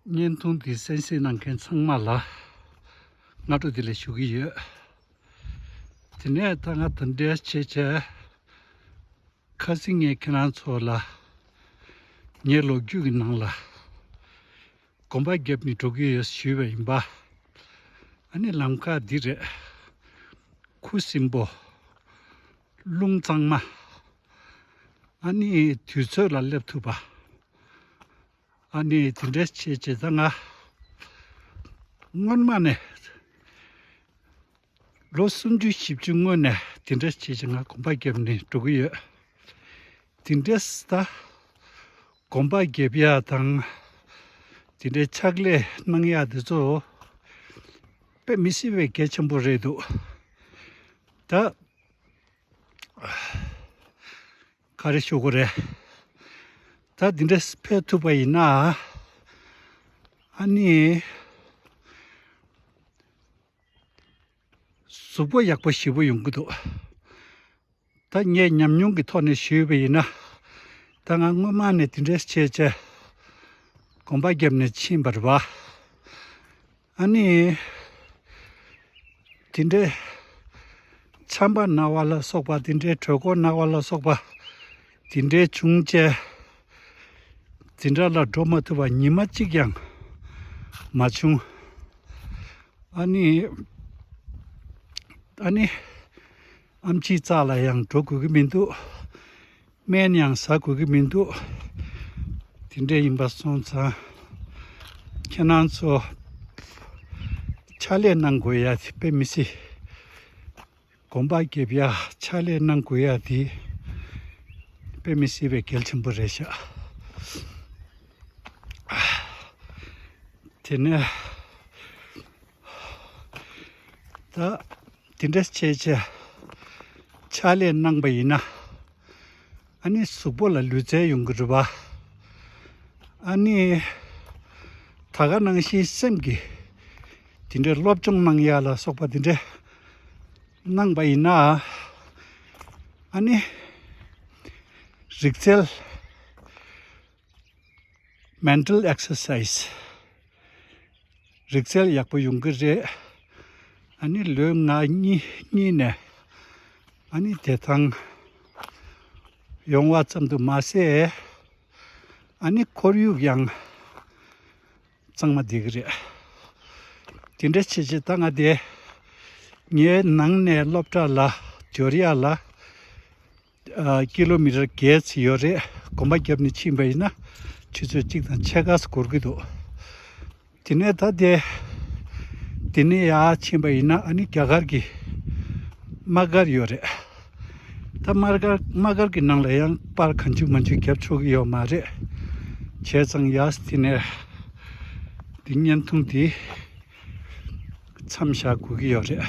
བརྙན་ཐུང་འདི་གསན་བཞེས་གནང་མཁན་ཚང་མ་ལ་སྔ་དྲོ་འདི་ལས་ཞུ་གི་ཡོད། དེ་ནས་ད་ང་དང་འབྲེལ་བྱེད་ཆེད་ཁ་སིང་ངས་ཁྱེད་རང་ཚོ་ལ་ངའི་ལོ་རྒྱུས་ཀྱི་ནང་ལ་གོམ་པ་རྒྱབ་ནས་འགྲོ་གི་ཡོད་ཞུས་པ་ཡིན་པ། ཨ་ནི་ལམ་ཁ་འདི་རེད། ཁུ་སིམ་པོ། རླུང་གཙང་མ། ཨ་ནི་དུས་ཚོད་ལ་སླེབས་ཐུབ་པ། ཨ་ནི་དེ་འདྲ་བྱས་བྱས་ཙང་ང་སྔོན་མ་ནས་ལོ་སུམ་ཅུ་བཞི་བཅུ་སྔོན་ནས་དེ་འདྲ་བྱས་བྱས་ང་གོམ་པ་བརྒྱབ་ནས་འགྲོ་གི་ཡོད། དེ་འདྲ་ཟད་གོམ་པ་བརྒྱབ་ཡག་དང་དེ་འདྲའི་ཕྱག་ལས་གནང་ཡག་དེ་ཚོ་དཔེ་མི་སྲིད་པའི་གལ་ཆེན་པོ་རེད་འདུག་ད། ག་རེ་ཞུ་དགོས་རེད། ད་འདི་འདྲ་ཕེབས་ཐུབ་པ་ཡིན་ན། ཨཱ་ནི། གཟུགས་པོ་ཡག་པོ་ཞེ་པོ་ཡོང་གི་འདུག། ད་ངས་ཉམས་མྱོང་གི་ཐོག་ནས་ཞུས་པ་ཡིན་ན། ད་ང་སྔོན་མ་ནས་འདི་འདྲ་བྱས་བྱས། གོམ་པ་བརྒྱབ་ནས་ཕྱིན་པར་བ། ཨཱ་ནི། དེ་འདྲའི། ཆམ་པ་རྣ་བ་ལ་སོགས་པ་དེ་འདྲའི་གྲོད་ཁོག་རྣ་བ་ལ་སོགས་པ། དེ་འདྲའི་བྱུང་བཅས། དེ་འདྲ་ལ་འགྲོ་མ་ཐུབ་པ་ཉི་མ་གཅིག་ཀྱང་མ་བྱུང། ཨཱ་ནི། ཨཱ་ནི། ཨམ་ཆིའི་རྩ་ལ་ཡང་འགྲོ་དགོས་ཀྱི་མི་འདུག། སྨན་ཡང་ཟ་དགོས་ཀྱི་མི་འདུག་དེ་འདྲས་ཡིན་པ་སོང་ཙང་ཁྱེད་རང་ཚོ་ཕྱག་ལས་གནང་དགོས་ཡ་དེ་དཔེ་མི་སྲིད། དགོངས་པ་འགེབས་ཡ་ཕྱག་ལས་གནང་དགོས་ཡ་དེ་དཔེ་མི་སྲིད་པའི་གལ་ཆེན་པོ་རེད་ཤག་དེ་ནས། ད་དེ་འདྲ་བྱས་བྱས་ཕྱག་ལས་གནང་པ་ཡིན་ན། ཨཱ་ནི་གཟུགས་པོ་ལ་ལུས་རྩལ་ཡོང་གི་རེད་པ། ཨཱ་ནི་ད་ག་གནང་བཞིན་སེམས་ཀྱི་དེ་འདྲའི་སློབ་སྦྱོང་གནང་ཡ་ལ་སོགས་པ་དེ་འདྲ་གནང་པ་ཡིན་ན། ཨཱ་ནི་རིག་རྩལ Mental Exercise། རིག་རྩལ་ཡག་པོ་ཡོང་གི་རེད། ཨཱ་ནི་ལོའི་ང་གཉིས་ནས་ཨཱ་ནི་བདེ་ཐང་ཡོང་བ་ཙམ་དུ་མ་ཟད་ཨཱ་ནི་ཁོར་ཡུག་ཡང་གཙང་མ་བསྡད་ཀྱི་རེད། དེ་འདྲ་བྱེད་བྱེད་ད་ང་དེ་ངའི་ནང་ནས་སློབ་གྲྭ་ལ་དོལ་རྒྱལ་ལ་ཀི་ལོ་མི་རེར་བརྒལ་ཚུལ་ཡོད་རེད་གོམ་པ་བརྒྱབ་ནས་ཕྱིན་པ་ཡིན་ན་ཆུ་ཚོད་གཅིག་དང་ཕྱེད་ཀ་སོགས་འགོར་གྱི་འདུག་དེ་ནས་ད་དེ་དེ་ནས་ཡར་ཕྱིན་པ་ཡིན་ན་ཨ་ནི་རྒྱ་གར་གྱི་དམག་སྒར་ཡོད་རེད་ད་དམག་སྒར་དམག་སྒར་གྱི་ནང་ལ་ཡང་པར་ག་འཇུག་མ་འཇུག་བརྒྱབ་ཆོག་གི་ཡོད་མ་རེད་བྱས་ཙང་ཡར་དེ་ནས་དེ་བརྙན་ཐུང་དེ་མཚམས་བཞག་དགོས་ཀྱི་ཡོད་རེད།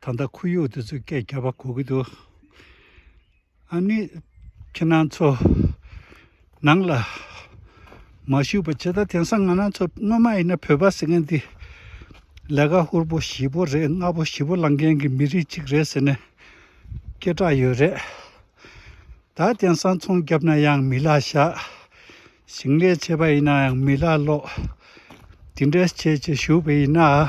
ད་ལྟ་ཁོར་ཡུག་དེ་ཚོས་སྐད་རྒྱག་པ་གོ་གི་འདུག་ཨ་ནི་ཁྱེད་རང་ཚོ་ནང་ལ་མ་བཞུགས་པ་ཇི་ལྟར་དེང་སང་ང་རང་ཚོ་སྔོན་མ་ཡིན་ན་བོད་པ་ཟེར་མཁན་འདི་ལས་ཀ་ཧུར་པོ་བཞི་པོ་རེད་ལྔ་པོ་བཞི་པོ་ལངས་མཁན་གྱི་མི་རིགས་གཅིག་རེད་ཟེར་ནས་སྐད་གྲགས་ཡོད་རེད། ད་དེང་སང་ཚོང་བརྒྱབ་ན་ཡང་མི་ལ་བཞག་ཞིང་ལས་བྱེད་པ་ཡིན་ན་ཡང་མི་ལ་ལོག་འདི་འདྲའི་བྱེད་བྱེད་བཞུགས་པ་ཡིན་ན།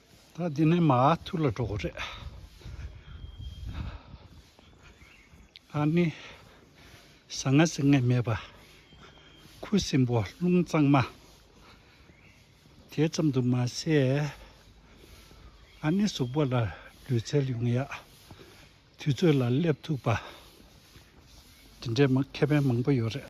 ད་འདི་ནས་མ་ཐུར་ལ་འགྲོ་དགོས་རེད། ད་ནི་ཟ་ང་ཟེར་ངེས་མེད་པ། ཁུ་སིམ་པོ་རླུང་གཙང་མ། དེ་ཙམ་དུ་མ་ཟད། ད་ནི་གཟུགས་པོ་ལ་ལུས་རྩལ་ཡོང་ཡག། དུས་ཚོད་ལ་སླེབས་ཐུབ་པ། འདི་འདྲའི་མཁས་ཕན་མང་པོ་ཡོད་རེད།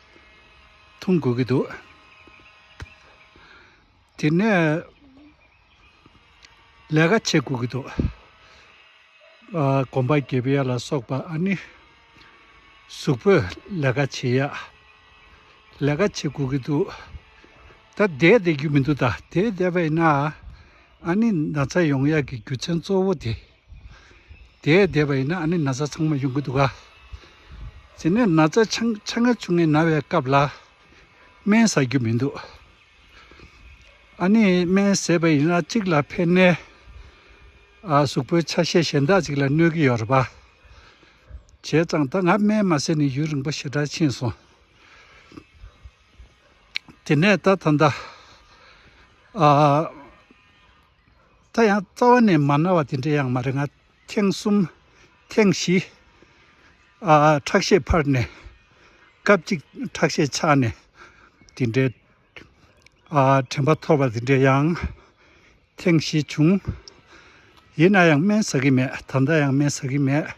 འཐུང་དགོས་ཀྱི་འདུག་དེ་ནས་ལས་ཀ་བྱེད་དགོས་ཀྱི་འདུག་གོམ་པ་འགྱེད་པ་ལ་སོགས་པ་ཨ་ནི་གཟུགས་པོས་ལས་ཀ་བྱེད་ཡ་ལས་ཀ་བྱེད་དགོས་ཀྱི་འདུག་ད་བསྡད་བསྡད་རྒྱུ་མི་འདུག་ད་བསྡད་བསྡད་པ་ཡིན་ན་ཨ་ནི་ན་ཚ་ཡོང་ཡག་གི་རྒྱུ་མཚན་གཙོ་བོ་དེ། དེས་བསྡད་པ་ཡིན་ན་ཨ་ནི་ན་ཚ་ཚང་མ་ཡོང་གི་འདུག་ག། དེ་ནས་ན་ཚ་ཆ་ཆ་ང་ཆུང་ངེ་ན་བའི་སྐབས་ལ་སྨན་བཟའ་རྒྱུ་མི་འདུག། ཨ་ནི་སྨན་བཟས་པ་ཡིན་ན་གཅིག་ལ་ཕན་ནས་གཟུགས་པོའི་ཆ་ཤས་གཞན་དག་ཅིག་ལ་གནོད་ཀྱི་ཡོད་རེད་པ། བྱས་ཙང་ད་ང་སྨན་མ་བཟས་ནས་ཡུན་རིང་པོ་ཞེ་དྲག་ཕྱིན་སོང། དེ་ནས་ད་ད་ལྟ། ད་ཡང་རྩ་བ་ནས་མ་ན་བ་དེ་འདྲའི་ཡང་མ་རེད་ང་ཐེངས་གསུམ། ཐེངས་བཞི། ཁྲག་ཤེད་འཕར་ནས། སྐབས་གཅིག་ཁྲག་ཤེད་ཆག་ནས། དེ་འདྲའི། དྲན་པ་འཐོར་བ་དེ་འདྲའི་ཡང། ཐེངས་བཞི་བྱུང། ཡིན་ན་ཡང་སྨན་ཟ་གི་མེད་ད་ལྟ་ཡང་སྨན་ཟ་གི་མེད།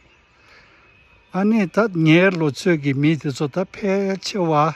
ཨ་ནི་ད་ངའི་ལོ་ཚོད་ཀྱི་མི་དེ་ཚོ་ད་ཕལ་ཆེ་བ།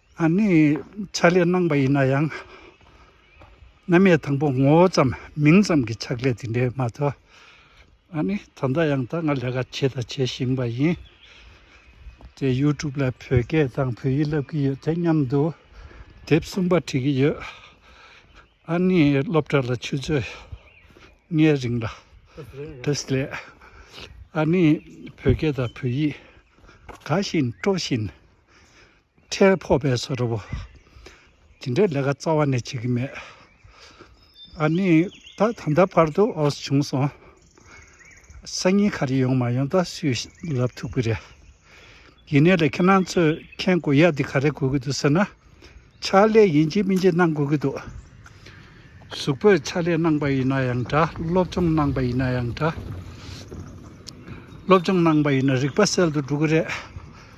ཨ་ནི་ཕྱག་ལས་གནང་པ་ཡིན་ན་ཡང། མནའ་མས་དང་པོ་ངོ་བོ་ཙམ་མིང་ཙམ་གྱི་ཕྱག་ལས་དེ་འདྲའི་མ་ཐོས། ཨ་ནི་ད་ལྟ་ཡང་ད་ང་ལས་ཀ་བྱས་དང་བྱེད་བཞིན་པ་ཡིན། དེ YouTube ལ་བོད་སྐད་དང་བོད་ཡིག་བསླབ་ཀྱི་ཡོད་དེ་མཉམ་དུ་དེབ་གསུམ་པ་བྲིས་ཀྱི་ཡོད། ཨ་ནི་སློབ་གྲྭ་ལ་ཆུ་ཚོད་ལྔའི་རིང་ལ Test ལས། ཨ་ནི་བོད་སྐད་དང་བོད་ཡིག་དགའ་བཞིན་སྤྲོ་བཞིན། ཁྲལ་ཕོག་པའི་བཟོ་གྲྭ་བོ། དེ་འདྲའི་ལས་ཀ་རྩ་བ་ནས་བྱེད་ཀྱི་མེད། ཨ་ནི། ད་ད་ལྟ་བར་དུ་ཨོ་སི་བྱུང་སོང། སང་ཉིན་ག་རེ་ཡོང་མ་ཡོང་ད་སུས་ལབ་ཐུབ་ཀི་རེད། ཡིན་ནའི་ལས་ཁྱེད་རང་ཚོས་མཁན་དགོས་ཡ་འདི་ག་རེ་དགོས་ཀྱི་འདུག་ཟེར་ན། ཕྱག་ལས་ཡིན་གཅིག་མིན་གཅིག་གནང་དགོས་ཀྱི་འདུག། གཟུགས་པོས་ཕྱག་ལས་གནང་པ་ཡིན་ན་ཡང་འདྲ་སློབ་སྦྱོང་གནང་པ་ཡིན་ན་ཡང་འདྲ། སློབ་སྦྱོང་གནང་པ་ཡིན་ན་རིག་པ་གསལ་དུ་འགྲོ་གི་རེད།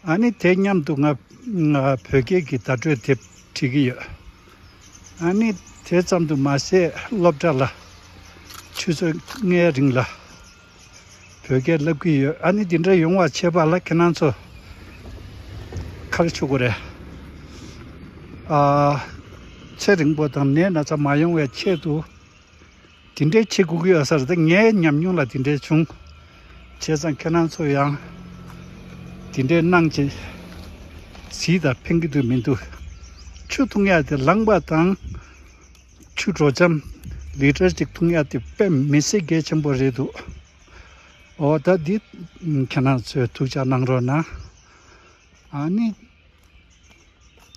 ཨ་ནི་དེ་སྙམ་དུ་ང་བོད་སྐད་ཀྱི་བརྡ་སྤྲོད་དེབ་བྲིས་ཀྱི་ཡོད། ཨ་ནི་དེ་ཙམ་དུ་མ་ཟད་སློབ་གྲྭ་ལ་ཆུ་ཚོད་ལྔའི་རིང་ལ་བོད་སྐད་བསླབ་ཀྱི་ཡོད། ཨ་ནི་འདི་འདྲ་ཡོང་བ་བྱེད་པ་ལ་ཁྱེད་རང་ཚོ་ཁག་ཆོད་གོ་རེད། ཚེ་རིང་པོ་དང་ནད་སྣ་ཚ་མ་ཡོང་བའི་ཆེད་དུ་དེ་འདྲའི་ཁྱི་གུག་ཡོད་སར་དེ་ངའི་ཉམས་མྱོང་ལ་དེ་འདྲའི་བྱུང། བྱས་ཙང་ཁྱེད་རང་ཚོ་ཡང་དེ་འདྲའི་སྣང་བྱེད་ཟིལ་དང་འཕེན་གི་འདུག་མི་འདུག་ཆུ་འཐུང་ཡ་དེ་ལངས་པ་དང། ཆུ་དྲོ་འཇམ་ལིཏར་གཅིག་འཐུང་ཡ་དེ་དཔེ་མི་སྲིད་གལ་ཆེན་པོ་རེད་འདུག་འོ་ད་འདི་ཁྱེད་རང་ཚོས་ཐུགས་ཅག་གནང་རོགས་གནང། ཨ་ནི།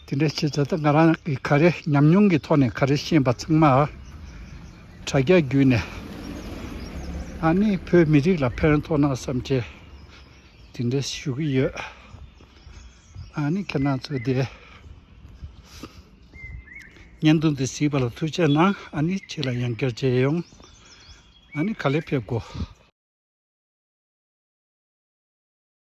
དེ་འདྲ་བྱས་ཚེ་ད་ང་རང་གི་ག་རེ་ཉམས་མྱོང་གི་ཐོག་ནས་ག་རེ་ཤེས་པ་ཚང་མ་དྲ་རྒྱ་བརྒྱུད་ནས་ཨ་ནི་བོད་མི་རིགས་ལ་ཕན་ཐོགས་ན་བསམ་ཆེ་དེ་འདྲ་ཞུ་གི་ཡོད། ཨ་ནི་ཁྱེད་རང་ཚོས་དེ་བརྙན་ཐུང་འདི་གཟིགས་པ་ལ་ཐུགས་ཆེ་གནང་ཨ་ནི་ཁྱེད་ལ་ཡང་བསྐྱར་མཇལ་ཡོང་ཨ་ནི་ག་ལེར་ཕེབས་དགོས།